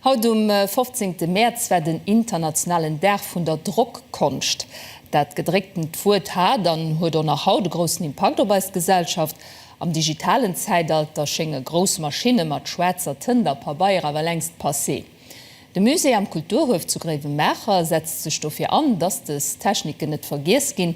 Haut um 15 Mäerz war den internationalen Dag vun der Drockkonscht. Dat gedrécktent Wuert hat an huet och nach haut e groussen Impakt op eis Gesellschaft. Am digitalen Zäitalter schénge grouss Maschinne mat schwaarzer Tënt a Pabeier awer längst passé. De Musée am Kulturhuef zu Gréiwemaacher setzt sech dofir an, dass dës Techniken net vergiess ginn.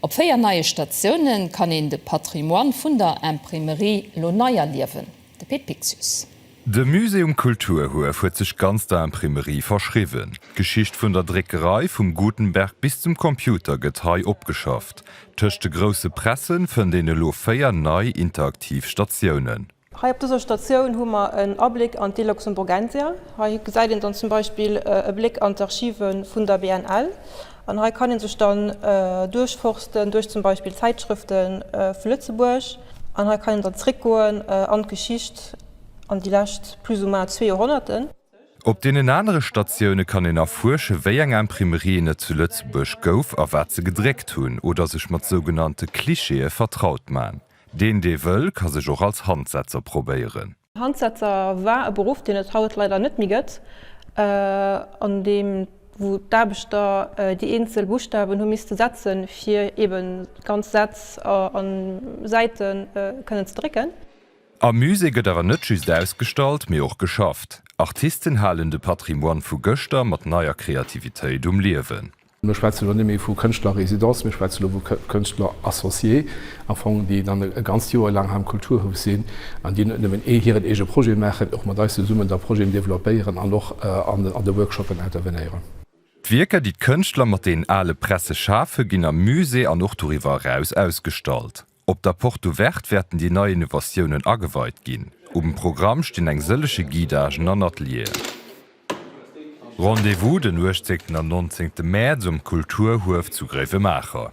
Op 4 neie Statioune kann een de Patrimoine vun der Imprimerie elo nei erliewen. De Pit Piccius. De Musée um Kulturhuef huet sech ganz der Imprimerie verschriwwen. D'Geschicht vun der Dréckerei, vum Gutenberg bis zum Computer, gëtt hei opgeschafft. Tëscht de grousse Pressen fënnt een elo véier nei interaktiv Statiounen. Hei op dëser Statioun hu mer en Abléck an d'Die Luxemburgensia. Hei gesäit een dann zum Beispill e Bléck an d'Archive vun der BNL. An hei kann een sech dann duerchforsten duerch zum Beispill Zäitschrëfte vu Lëtzebuerg. An hei kann een dann zréckgoen an d'Geschicht, an déi lescht plus ou moins zwee Joerhonnerte. Op deenen anere Statioune kann een erfuersche wéi eng Imprimerien et zu Lëtzebuerg gouf a wat se gedréckt hunn oder sech mat sougenannte Clichéë vertraut man. Deen dee wëll ka sech och als Handsetzer probéieren. Handsetzer war e Beruff, deen et haut leider net méi gëtt, an deem wou d'Aarbechter déi eenzel Buschtawen hu misste setzen, fir eben ganz Sätz a Säite kënnen ze drécken. Am Musée gëtt awer net just ausgestallt, mee och geschafft. Artisten halen de Patrimoine vu gëschter mat neier Kreativitéit um Liewen. Mir schwätzen elo net méi vu Kënschtlerrésidence, mir schwätzen elo vu Kënschtler-Associé, am Fong, déi dann e ganzt Joer laang hei am Kulturhouf sinn an déi net nëmmen hiren eege Projet maachen, mee och mat eis zesummen da Projeten developpéieren an och an de Workshoppen intervenéieren. D'Wierker, déi d'Kënschtler mat deenen ale Presse schafen, ginn am Musée an och doriwwer eraus ausgestallt. Op der Porte Ouverte wäerten déi nei Innovatiounen ageweit ginn. Um Programm stinn eng sëllege Guidagen an Atelieren. Rendez-vous den 18 an 19 Mäerz um Kulturhuef zu Gréiwemaacher.